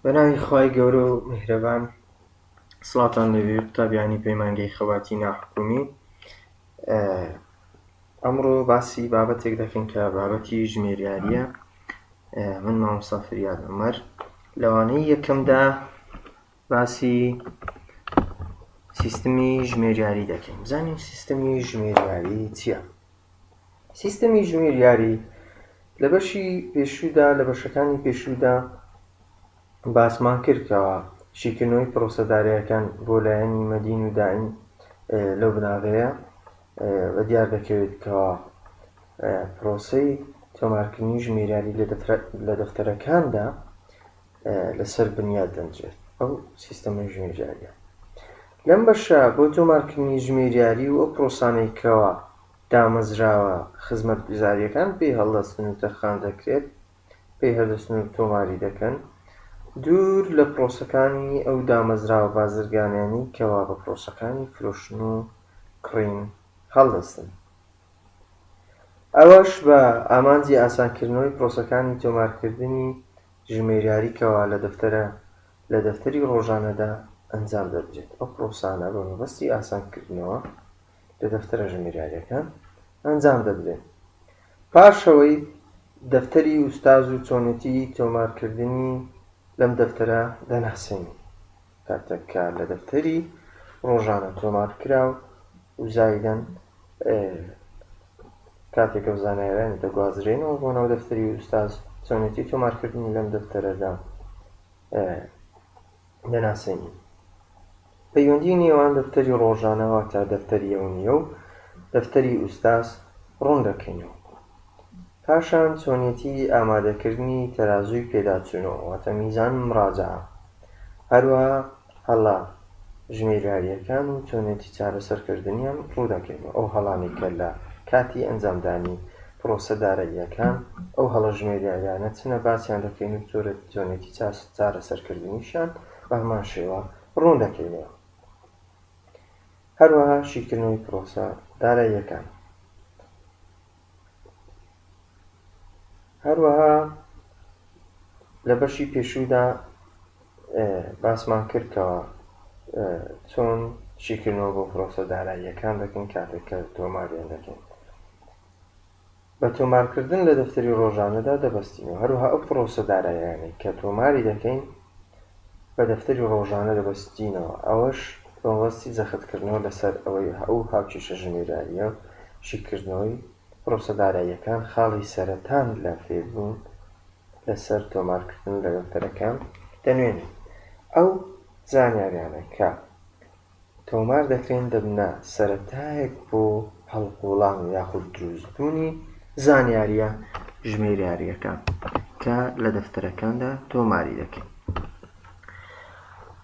بەناوی خوای گەورە و میهرەبان سڵاتان لەوێ قوتابیانی پەیمانگەی خەباتی ناحکومی ئەمڕۆ باسی بابەتێک دەکەین کە بابەتی ژمێریاریە من مامۆسافریاد عمر لەوانەی یەکەمدا باسی سیستمی ژمێریاری دەکەین بزانین سیستمی ژمێریاری چییە سیستمی ژمێریاری لە بەشی پێشوودا لە بەشەکانی پێشوودا باسمان کردکەوە شیکردنەوەی پرۆسەدارەکان بۆ لایەنی مەدین و داین لەو بناغەیە بە دیار دەکەوێت کەەوە پرۆسی تۆمارکردنی ژمێریاری لە دەفتەرەکاندا لەسەر بنیات دەنرێت ئەو سیستەمە ژمێریاریە. لەم بەشە بۆ تۆمارکردنی ژمێریاری و ئەو پرۆسانەی کەوا دامەزراوە خزمەتگوزاریەکان پێی هەڵدەستن و تەرخان دەکرێت پێی هەردەستن و تۆماری دەکەن دوور لە پرۆسەکانی ئەو دامەزراوە بازرگانیانی کەوا بە پرۆسەکانی فرۆشتن و کڕین هەڵدەستن. ئەوەش بە ئامانجی ئاسانکردنەوەی پرۆسەکانی تۆمارکردنی ژمێریاری کەوا لە دەفتەرە لە دەفتەری ڕۆژانەدا ئەنجام دەدرێت ئەو پرۆسانە بە مەبەستی ئاسان کردنەوە لە دەفتەرە ژمێریاریەکان ئەنجام دەدرێن پاش ئەوەی دەفتەری ئوستاز و چۆنێتی تۆمار کردنی لەم دەفتەرە دەناسێنین کاتێک کە لە دەفتەری ڕۆژانە تۆمارکراو و زایدەن کاتێک ئەو زانایانە دەگوازرێنەوە بۆ ناو دەفتەری ئوستاز چۆنێتی تۆمارکردنی لەم دەفتەرەدا دەناسێنین پەیوەندی نێوان دەفتەری ڕۆژانەوە تا دەفتەریەوە نیە و دەفتەری ئوستاز ڕوون دەکەینەوە پاشان چۆنیەتی ئامادەکردنی تەرازووی پێداچوونەوە واتە میزان مراجعە هەروەها هەڵە ژمێریاریەکان و چۆنیەتی چارەسەرکردنیان ڕوودەکەینەوە ئەو هەڵانەی کە لە کاتی ئەنجامدانی پرۆسە داراییەکان ئەو هەڵە ژمێریاریانە چنە باسیان دەکەین و چۆنیەتی چارەسەرکردنیشیان بە هەمان شێوە ڕوون دەکەینەوە هەروەها شیکردنەوەی پرۆسە داراییەکان. هەروەها لە بەشی پێشوودا باسمان کرد کەەوە چۆن شیکردنەوە بۆ پرۆسە داراییەکان دەکەین کاتێک کە تۆماریان دەکەین بە تۆمارکردن لە دەفتەری ڕۆژانەدا دەبستینەوە هەروها ئەو پرۆسە دارایانەی کە تۆماری دەکەین بە دەفتەری ڕۆژانە دەبەستینەوە، ئەوەش بە مەبەستی جەختکردنەوە لەسەر ئەوەی ئەو هاوکێشە ژمێریارییە و شیکردنەوەی پرۆسە داراییەکان خاڵی سەرەتان لە فێربوون لەسەر تۆمارکردن لە دەفتەرەکان دەنوێنێت. ئەو زانیاریانە کە. تۆمار دەکرێن دەبنە سەرەتایەک بۆ هەڵقوڵان یاخود دروستبوونی زانیارییە ژمێریارییەکان کە لە دەفتەرەکاندا تۆماری دەکەین.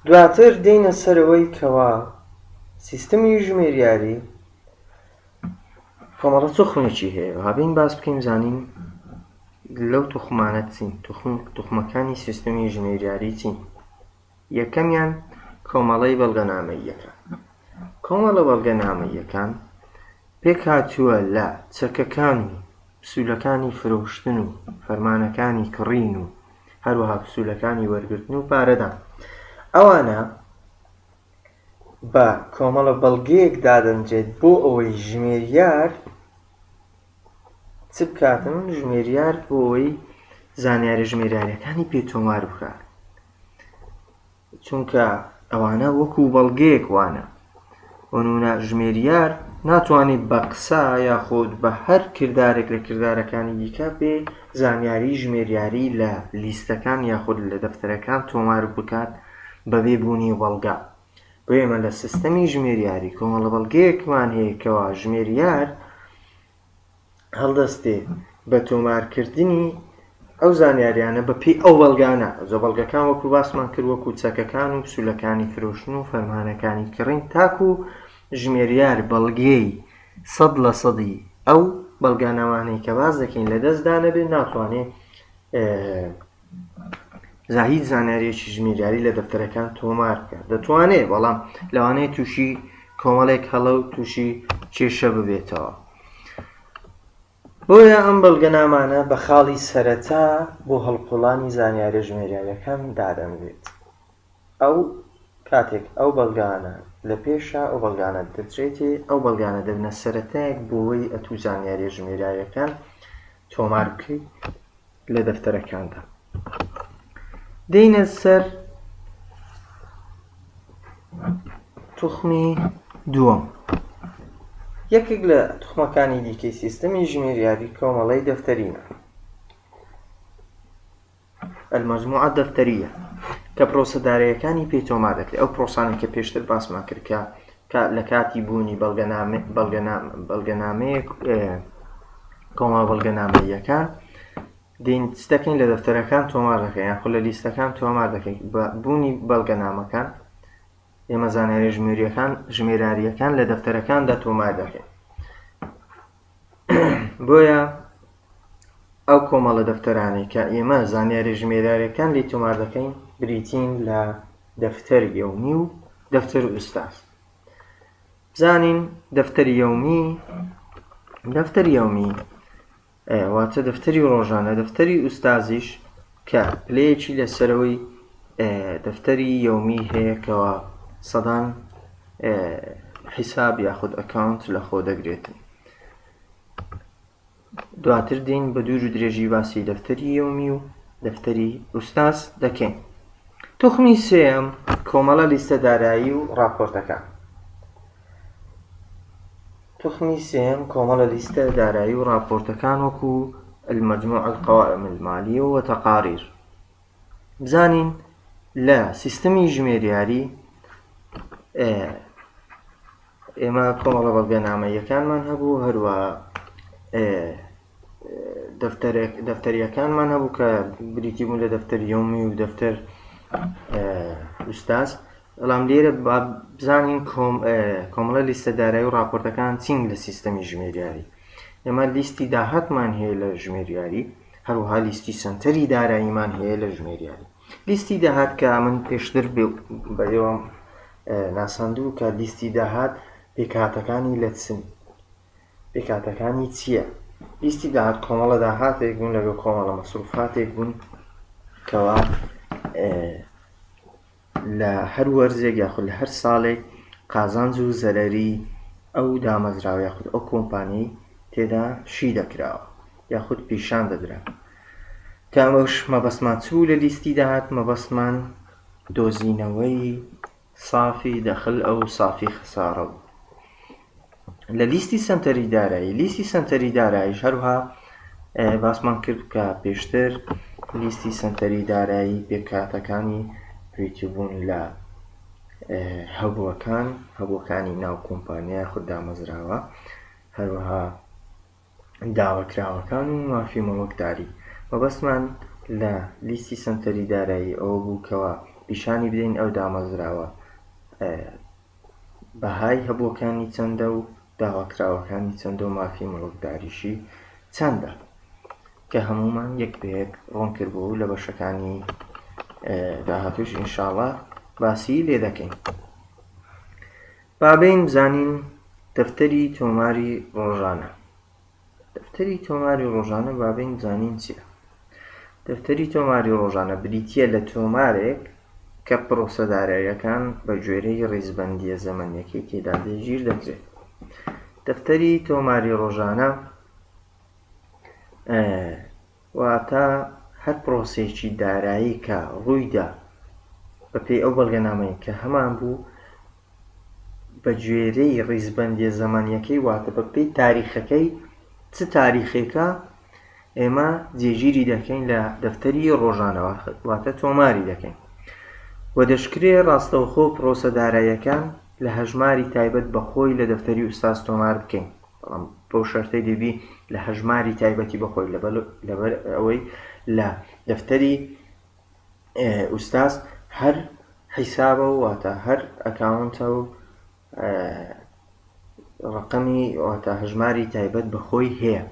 دواتر دێینە سەر ئەوەی کەوا سیستمی ژمێریاری کۆمەڵە توخمێکی هەیە با بێین باس بکەین زانین لەو توخمانە چین توخمەکانی سیستمی ژمێریاری چین یەکەمیان کۆمەڵەی بەڵگەنامەییەکان. کۆمەڵە بەڵگەنامەییەکان پێکهاتووە لە چەکەکان و پسوولەکانی فرۆشتن و فەرمانەکانی کڕین و هەروەها پسوولەکانی وەرگرتن و پارەدان. ئەوانە بە کۆمەڵە بەڵگەیەک دادەنرێت بۆ ئەوەی ژمێریار چ بکاتن؟ ژمێریار بۆ ئەوەی زانیارە ژمێریارییەکانی پێ تۆمار بکات. چونکە ئەوانە وەکو بەڵگەیەک وانە بۆ نمونە ژمێریار ناتوانێ بە قسە یاخود بە هەر کردارێک لە کردارەکانی دیکە بێ زانیاری ژمێریاری لە لیستەکان یاخود لە دەفتەرەکان تۆمار بکات بەبێ بوونی بەڵگە بۆ ئێمە لە سیستەمی ژمێریاری کۆمەڵە بەڵگەیەکمان هەیە کەوا ژمێریار هەڵدەستێ بە تۆمارکردنی ئەو زانیاریانە بە پێی ئەو بەڵگانە زۆ بەڵگەکان وەکو باسمان کرد وەکو چەکەکان و پسولەکانی فرۆشتن و فەرمانەکانی کڕین تاکو و ژمێریار بەڵگێی سەد لە سەدی ئەو بەڵگانەوانەی کە باز دەکەین لە دەستدا نەبێت ناتوانێت جا هیچ زانیاریەکی ژمیریاری لە دەفتەرەکان تۆمار بکە دەتوانێت بەڵام لەوانەیە تووشی کۆمەڵێک هەڵە و تووشی کێشە ببێتەوە بۆیە ئەم بەڵگەنامانە بە خاڵی سەرەتا بۆ هەڵقوڵانی زانیارە ژمێریاریەکان دادەنرێت ئەو کاتێک ئەو بەڵگانە لە پێشە ئەو بەڵگانە دەدرێتێ ئەو بەڵگانە دەبنە سەرەتایەک بۆوەی ئەتوو زانیاریە ژمێراویەکان تۆمار بکەی لە دەفتەرەکاندا دێنە سەر توخمی دووەم یەکێک لە توخمەکانی دیکەی سیستەمی ژمێریابی کۆمەڵی دەفتەرینە المجموعە دەفتەریە کە پرۆسە داراییەکانی پێی تۆمار دەکرێت ئەو پرۆسانەی کە پێشتر باسمان کرد کە لە کاتی بوونی بەڵگەنامەیە کۆما بەڵگەنامەیەکان دینستەکەین لە دەفتەرەکان تۆمار دەکەین یان خو لە لیستەکان تۆمار دەکەین بە بوونی بەڵگەنامەکان ئێمە زانایە ژمێریەکان ژمێراریەکان لە دەفتەرەکاندا تۆمار دەکەین بۆیە ئەو کۆمەڵە دەفتەرانەی کە ئێمە زانیاری ژمێریارەکان لی تۆمار دەکەین بریتین لە دەفتەر یومی و دەفتەر ئوستاز بزانین دەفتەر یومی دەفتەر یومی واتە دەفتەری ڕۆژانە دەفتەری ئوستازیش کە پلەیەکی لە سەرەوەی دەفتەری یەومی هەیە کەوا سەدان حیساب یاخود ئەکاونت لە خۆ دەگرێتن دواتر دین بە دوور و درێژی باسی دەفتەری یومی و دەفتەری ئوستاس دەکەین توخمی سێم کۆمەڵە لیستە دارایی و راپۆرتەکە توخمی سێیەم کۆمەڵە لیستە دارایی و ڕاپۆرتەکان وەکو المجموع القوائم المالیە و تەقاریر بزانین لە سیستمی ژمێریاری ئێمە کۆمەڵە بەڵگەنامەیەکانمان هەبوو هەروە دەفتەریەکانمان هەبوو کە بریتی بوون لە دەفتەر یومی و دەفتەر ئوستاز بەڵام لێرە بزانین کۆمەڵە لیستەدارای و راپۆرتەکان چین لە سیستەمی ژمێریاری ئێمە لیستی داهاتمان هەیە لە ژمێریاری هەروها لیستی سنتەری داراییمان هەیە لە ژمێریاری لیستی داهات کە من پێشتر بە ئێوەم ناساندوو کە لیستی داهات پێکهاتەکانی لە چن پێکهاتەکانی چییە؟ لیستی داهات کۆمەڵە داهاتێک بوون لەگەڵ کۆمەڵە مەسروفاتێک بوون کەوا لە هەر وەرزێک یاخود لە هەر ساڵێک قازانج و زەرەری ئەو دامەزراوە یاخود ئەو کۆمپانی تێدا شی دەکراوە یاخود پیشان دەدرا کامەش مەبەستمان چوو لە لیستی داهات مەبەستمان دۆزینەوەی صافی دەخل ئەو صافی خسارە بوو لە لیستی سەنتەری دارایی لیستی سەنتەری داراییش هەروها باسمان کرد کە پێشتر لیستی سەنتەری دارایی پێکهاتەکانی پێچبوون لە هەبووەکان هەبووەکانی ناو کۆمپانیا خود دامەزراوە هەروها داواکراوەکان و مافی مۆڵکداری. مەبەستمان لە لیستی سەنتەری دارایی ئەوە بوو کەوا پیشانی بدەین ئەو دامەزراوە بەهای هەبووەکانی چەندە و داواکراوەکانی چەندە و مافی مۆڵکداریشی چەندە کە هەمومان یەک بەیەک ڕوون کردبوو و لە بەشەکانی داهاتووش ئینشاڵا باسی لێ دەکەین. با بێین بزانین دەفتەری تۆماری ڕۆژانە دەفتەری تۆماری ڕۆژانە با بێین بزانین چییە دەفتەری تۆماری ڕۆژانە بریتییە لە تۆمارێک کە پرۆسە داراییەکان بە گوێرەی ڕیزبەندیە زەمەنیەکەی تێدا جێگیر دەکرێت دەفتەری تۆماری ڕۆژانە واتە هەر پرۆسەیەکی دارایی کە ڕوویدا بەپێی ئەو بەڵگەنامەی کە هەمان بوو بەگوێرەی ڕیزبەندیە زەمەنیەکەی واتە بەپێی تاریخەکەی چ تاریخێکە ئێمە جێگیری دەکەین لە دەفتەری ڕۆژانەوە واتە تۆماری دەکەین و دەشکرێ ڕاستەوخۆ پرۆسە داراییەکان لە هەژماری تایبەت بەخۆی لە دەفتەری ئوستاز تۆمار بکەین بەڵام بەو شەرتەی دەبی لە هەژماری تایبەتی بە خۆی لەبەر ئەوەی لە دەفتەری ئوستاز هەر حیسابە و واتە هەر ئەکاونتە و ڕقەمی واتە هەژماری تایبەت بە خۆی هەیە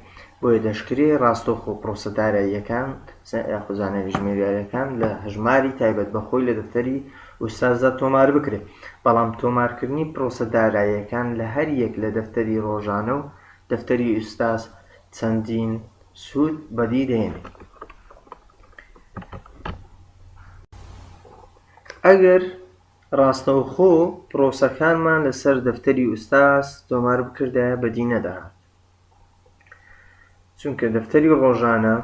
بۆیە دەشکرێ ڕاستۆخ و پرۆسەداراییەکان یاخوزانەوی ژمێریارەکان لە هەژماری تایبەت بە خۆی لە دەفتەری ئوستازە تۆمار بکرێ بەڵام تۆمارکردنی پرۆسە داراییەکان لە هەر یەک لە دەفتەری ڕۆژانە و دەفتەری ئوستاز چەندین سوود بەدی دەهێنێ. ئەگەر ڕاستەوخۆ پرۆسەکانمان لەسەر دەفتەری ئوستاز تۆمار بکردایە بەدی نەدەهات. چونکە دەفتەری ڕۆژانە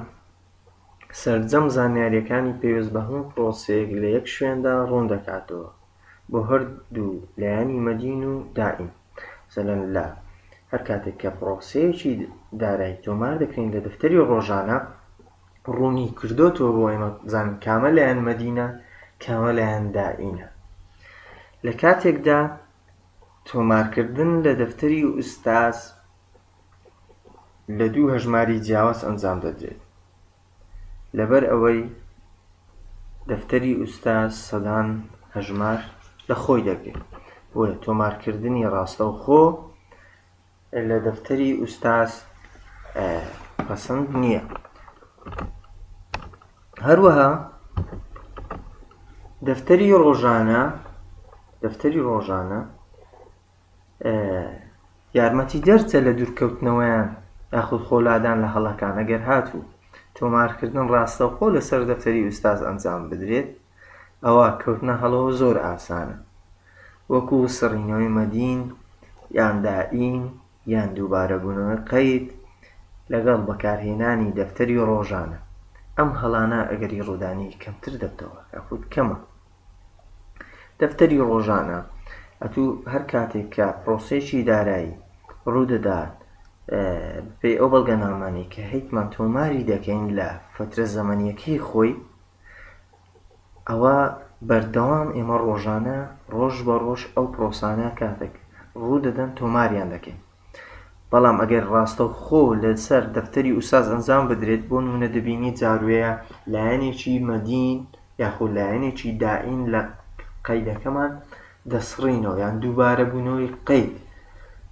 سەرجەم زانیاریەکانی پێویست بە هەموو پرۆسەیەک لە یەک شوێندا ڕوون دەکاتەوە بۆ هەردوو لایەنی مەدین و دائیم سەلەن لە هەر کاتێک کە پرۆسەیەکی دارایی تۆمار دەکەین لە دەفتەری ڕۆژانە ڕوونی کردوتەوە بۆ ئێمە بزان کامە لایەن مەدینە کامە لایەن دائینە لە کاتێکدا تۆمارکردن لە دەفتەری ئوستاز لە دوو هەژماری جیاواز ئەنجام دەدرێت لەبەر ئەوەی دەفتەری ئوستاز سەدان هەژمار لە خۆی دەگرێت بۆیە تۆمارکردنی ڕاستەوخۆ لە دەفتەری ئوستاز پەسەند نییە هەروەها دەفتەری ڕۆژانە دەفتەری ڕۆژانە یارمەتی دەرچە لە دوورکەوتنەوەیان یاخود خۆلادان لە هەڵەکان ئەگەر هاتوو تۆمارکردن ڕاستەوخۆ لەسەر دەفتەری ئوستاز ئەنجام بدرێت ئەوا کەوتنە هەڵەوە زۆر ئاسانە وەکو سڕینەوەی مەدین یان دائین یان دووبارە بوونەوەی قەید لەگەڵ بەکارهێنانی دەفتەری ڕۆژانە ئەم هەڵانە ئەگەری ڕوودانی کەمتر دەبتەوە یاخود کەمە دەفتەری ڕۆژانە ئەتوو هەر کاتێک کە پرۆسێکی دارایی ڕوودەدات پێی ئەو بەڵگەنامانەی کە هیتمان تۆماری دەکەین لە فترە زەمەنیەکەی خۆی ئەوا بەردەوام ئێمە ڕۆژانە ڕۆژ بە ڕۆژ ئەو پرۆسانە کاتێک ڕوو دەدەن تۆماریان دەکەین بەڵام ئەگەر ڕاستە و خۆ لەسەر دەفتەری ئوساز ئەنجام بدرێت بۆ نمونە دەبینی جاروەیە لایەنێکی مەدین یاخۆ لایەنێکی دائین لە قەیدەکەمان دەسڕینەوە یان دووبارە بوونەوەی قەید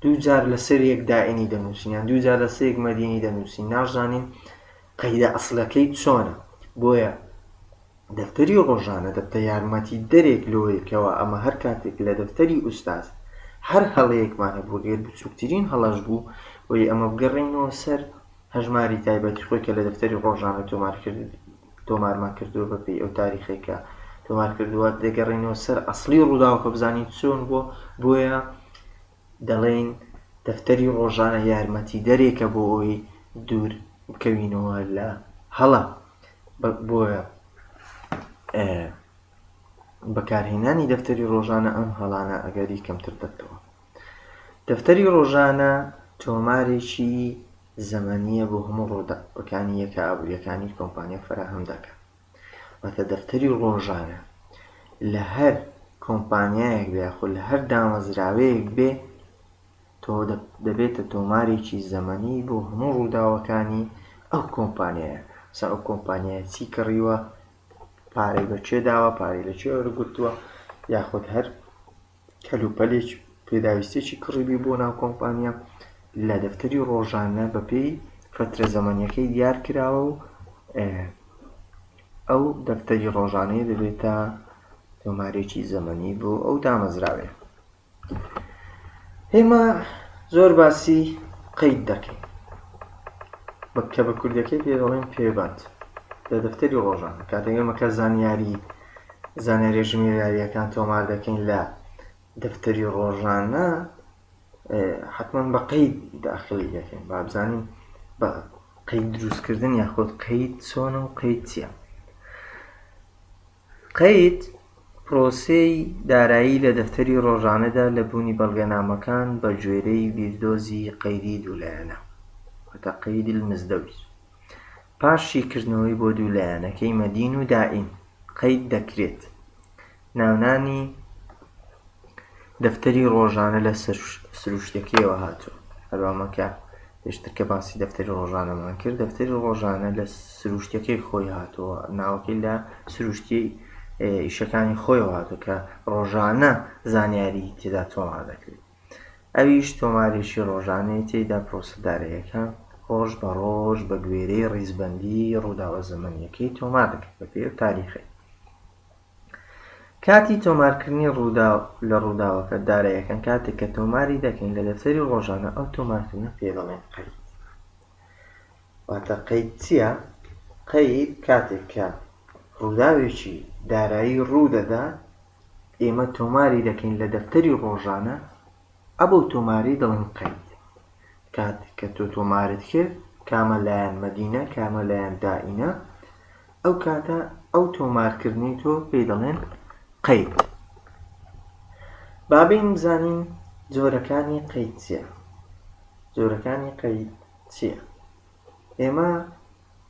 دوو جار لەسەر یەک دائینی دەنووسین یان دوو جار لەسەر یەک مەدینی دەنووسین نازانین قەیدە ئەسڵەکەی چۆنە؟ بۆیە دەفتەری ڕۆژانە دەبتە یارمەتیدەرێک لەوەی کەوا ئەمە هەر کاتێک لە دەفتەری ئوستاز هەر هەڵەیەکمان هەبوو گەر بچووکترین هەڵەش بوو وەی ئەمە بگەڕێینەوە سەر هەژماری تایبەتی خۆی کە لە دەفتەری ڕۆژانە تۆمار کرد تۆمارمان کردووە بە پێی ئەو تاریخەی کە تۆمار کردووە دەگەڕێینەوە سەر ئەسڵی ڕووداوەکە بزانین چۆن بووە بۆیە دەڵێین دەفتەری ڕۆژانە یارمەتیدەرێکە بۆ ئەوەی دوور بکەوینەوە لە هەڵە. بۆیە بەکارهێنانی دەفتەری ڕۆژانە ئەم هەڵانە ئەگەری کەمتر دەکەوە. دەفتەری ڕۆژانە تۆمارێکی زەمەنییە بۆ هەموو ڕووداوەکانی یەکە ئابووریەکانی کۆمپانیا فەراهەم دەکات. واتە دەفتەری ڕۆژانە لە هەر کۆمپانیایەک بێ یاخود لە هەر دامەزراوەیەک بێ تۆ دەبێتە تۆمارێکی زەمەنی بۆ هەموو ڕووداوەکانی ئەو کۆمپانیایە سا ئەو کۆمپانیایە چی کڕیوە پارەی بەچێ داوە پارەی لە چێ وەرگرتووە یاخود هەر کەلوپەلێکی پێداویستێکی کڕیبی بۆ ناو کۆمپانیا لە دەفتەری ڕۆژانە بەپێی فەترە زەمەنیەکەی دیار کراوە و ئەو دەفتەری ڕۆژانەیە دەبێتە تۆمارێکی زەمەنی بۆ ئەو دامەزراوێ ئێمە زۆر باسی قەید دەکەین بە کە بە کوردەکەی پێ دەڵێن پێبەند لە دەفتەری ڕۆژان کاتێک ئێمەکە زانیاری زانیارییە ژمێریارییەکان تۆمار دەکەین لە دەفتەری ڕۆژانە حتمما بە قەید داخلی دەکەین بابزانین بە قەید دروستکردن یاخود قەید چۆنە و قەید چیە قەید پرۆسەی دارایی لە دەفتەری ڕۆژانەدا لە بوونی بەڵگەنامەکان بە گوێرەی بیردۆزی قەیدی دوولایەنە وتە قەیدی مزدەوت پاش شیکردنەوەی بۆ دوو لایەنەکەی مەدین و دائین قەید دەکرێت ناونانی دەفتەری ڕۆژانە لە سروشتەکەیەوە هاتووە هەروامەکە پێشتر کە باسی دەفتەری ڕۆژانەمان کرد دەفتەری ڕۆژانە لە سروشتەکەی خۆی هاتووە ناوەکەی لە سروشتی ئیشەکانی خۆی هاتوو کە ڕۆژانە زانیاری تێدا تۆمار دەکرێت ئەویش تۆمارێکی ڕۆژانەی تێیدا پرۆسە داراییەکە ڕۆژ بە ڕۆژ بە گوێرەی ڕیزبەندی ڕووداوە زەمەنیەکەی تۆمار دەکرد بە پێی ئەو تاریخەی کاتی تۆمارکردنی ڕووداو لە ڕووداوەکە دارایەکان کاتێک کە تۆماری دەکەین لە دەفتەری ڕۆژانە ئەو تۆمارکردنە پێ دەڵێن قەید واتە قەید چییە؟ قەید کاتێک کە ڕووداوێکی دارایی ڕوو دەدات ئێمە تۆماری دەکەین لە دەفتەری ڕۆژانە ئەبەو تۆماری دەڵێن قەید کاتێک کە تۆ تۆمارت کرد کامە لایەن مەدینە کامە لایەن دائینە ئەو کاتە ئەو تۆمارکردنی تۆ پێی دەڵێن قەید بابین بزانین جۆرەکانی قەید چیە جۆرەکانی قەید چیە ئێمە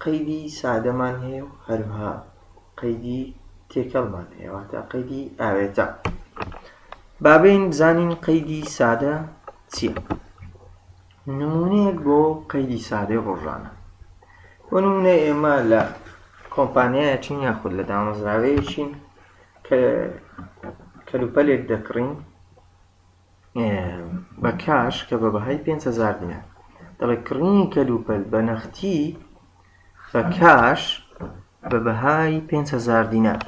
قەیدی سادەمان هەیە و هەروەها قەیدی تێکەڵمان هەیە واتە قەیدی ئاوێتە بابین بزانین قەیدی سادە چییە نمونەیەک بۆ قەیدی سادەی ڕۆژانە بۆ نمونە ئێمە لە کۆمپانیایەکین یاخود لە دامەزراوەیەکین کە کەلوپەلێک دەکڕین بە کاش کە بە بەهای پێنج هەزار دینار دەڵێ کڕینی کەلوپەل بە نەختی بە کاش بە بەهای پێنج هەزار دینار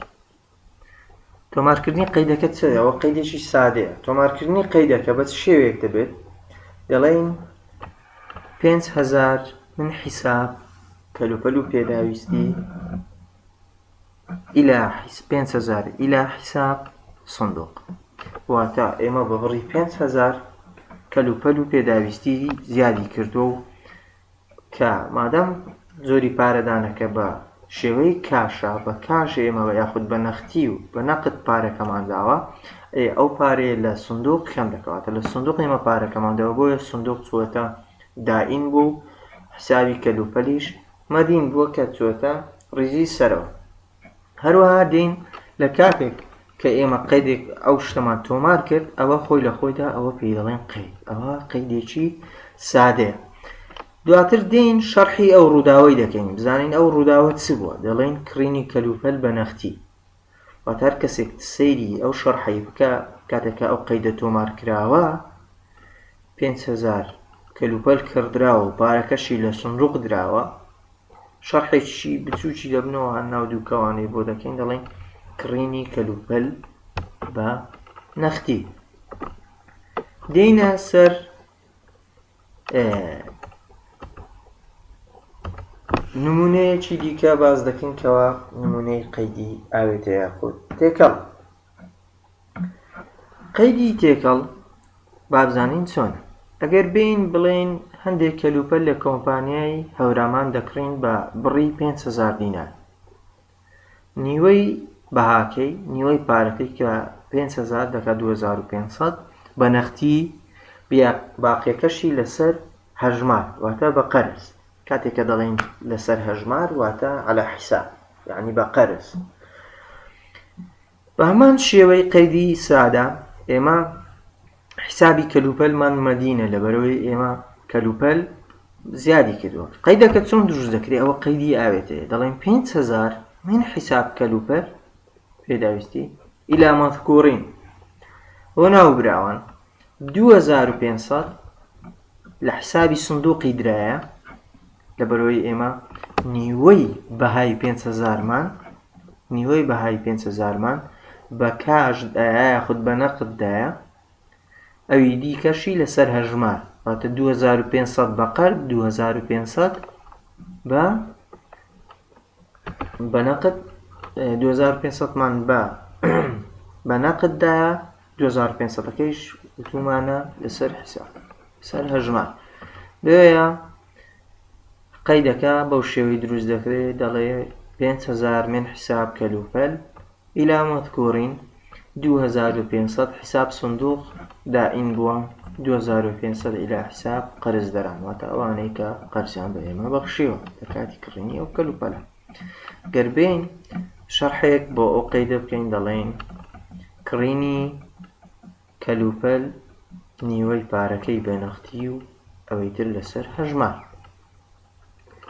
تۆمارکردنی قەیدەکە چەوە قەیدێکی سادەیە تۆمارکردنی قەیدەکە بە شێوەیەک دەبێت دەڵێن پێنج هەزار من حیساب کەلوپەل و پێداویستی الی حس پێنج هەزار الی حساب صندوق واتە ئێمە بە بڕی پێنج هەزار کەل و پەل و پێداویستی زیادی کردووە و کە مادەم زۆری پارەدانەکە بە شێوەی کاشە بە کاش ئێمە بە یاخود بە نەختی و بە نەقت پارەکەمان داوە ئێ ئەو پارەیە لە سندوق کەم دەکەواتە لە سندوق ئێمە پارەکەمان دەوە بۆیە سندوق چوەتە دائین بوو حسابی کەلوپەلیش مەدین بووە کە چووەتە ڕیزی سەرەوە. هەروەها دین لە کاتێک کە ئێمە قەیدێک ئەو شتەمان تۆمار کرد ئەوە خۆی لە خۆیدا ئەوە پێی دەڵێن قەید ئەوە قەیدێکی سادەیە. دواتر دین شەرحی ئەو ڕووداوەی دەکەین بزانین ئەو ڕووداوە چ بووە دەڵێن کڕینی کەلوپەل بە نەختی واتە هەر کەسێک سەیری ئەو شەرحەی بکا کاتێک کە ئەو قەیدە تۆمار کراوە پێنج هەزار کەلوپەل کڕدراوە و پارەکەشی لە سندوق دراوە شەرحێکی بچووکی دەبنەوە هەر ناو دوو کەوانەی بۆ دەکەین دەڵێن کڕینی کەلوپەل بە نەختی دێینە سەر نمونەیەکی دیکە باز دەکەین کەەوە نمونەی قەیدی ئاوێتە یاخود تێکەڵ قەیدی تێکەڵ بابزانین چۆن ئەگەر بین بڵێن هەندێک کەلوپەل لە کۆمپانیای هەورامان دەکڕین بە بڕی 500 دینار نیوەی بەهاکەی، نیوەی پارەکەی کە پێنج هەزار دەکات دوو هەزار و پێنج سەد بە نەختی، باقیەکەشی لەسەر هەژمار واتە بە قەرز، کاتێک کە دەڵێین لەسەر هەژمار واتە عەلا حیساب یەعنی بە قەرز. بە هەمان شێوەی قەیدی سادە ئێمە حیسابی کەلوپەلمان مەدینە لەبەرەوەی ئێمە کەلوپەل زیادی کردووە قەیدەکە چۆن دروست دەکرێت ئەوە قەیدی ئاوێتەیە دەڵێن 5هزار من حیساب کەلوپەل پێداویستی ئیلا مەذکورین بۆ ناوبراوان 2500 لە حسابی سندوقی درایە لەبەرئەوەی ئێمە نیوەی بەهای پێنج هەزارمان نیوەی بەهای پێنج هەزارمان بە کاش دایە یاخود بە نەقد دایە ئەوی دیکەشی لەسەر هەژمار واتە 2500 بە قەرد 2500 بە بەنەقد دوهەزارو پێنج سەد مان بە بە نەقد دایە دوهەزارو پێنج سەد ەکەیش وتومانە لەسەر حساب سەر هەژمار بۆیە قەیدەکە بەو شێوەی دروست دەکرێت دەڵێ پێنج هەزار من حساب کەلوپەل ئیلامەت گۆرین، دوو هەزار و پێنج سەد حساب صندوق دائم بووە، دوو هەزار و پێنج سەد الی حساب قەرزدەران، واتە ئەوانەی کە قەرزیان بە ئێمە بەخشیوە لە کاتی کڕینی ئەو کەلوپەلە. گەر بێین شەرحێک بۆ ئەو قەیدە بکەین دەڵێین کڕینی کەلوپەل نیوەی پارەکەی بە نەختی و ئەوەی تر لەسەر هەژمار.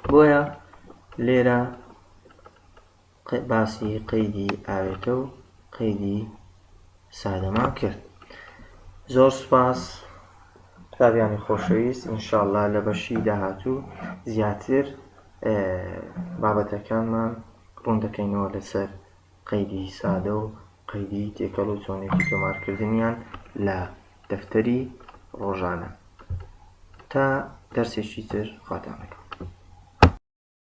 بۆیە لێرە باسی قەیدی ئاوێتە و قەیدی سادەمان کرد زۆر سوپاس قوتابیانی خۆشەویست ئینشاءاللە لە بەشی داهاتوو زیاتر بابەتەکانمان ڕوون دەکەینەوە لەسەر قەیدی سادە و قەیدی تێکەڵ و چۆنێکی تۆمارکردنیان لە دەفتەری ڕۆژانە تا دەرسێکی تر خواتانەکە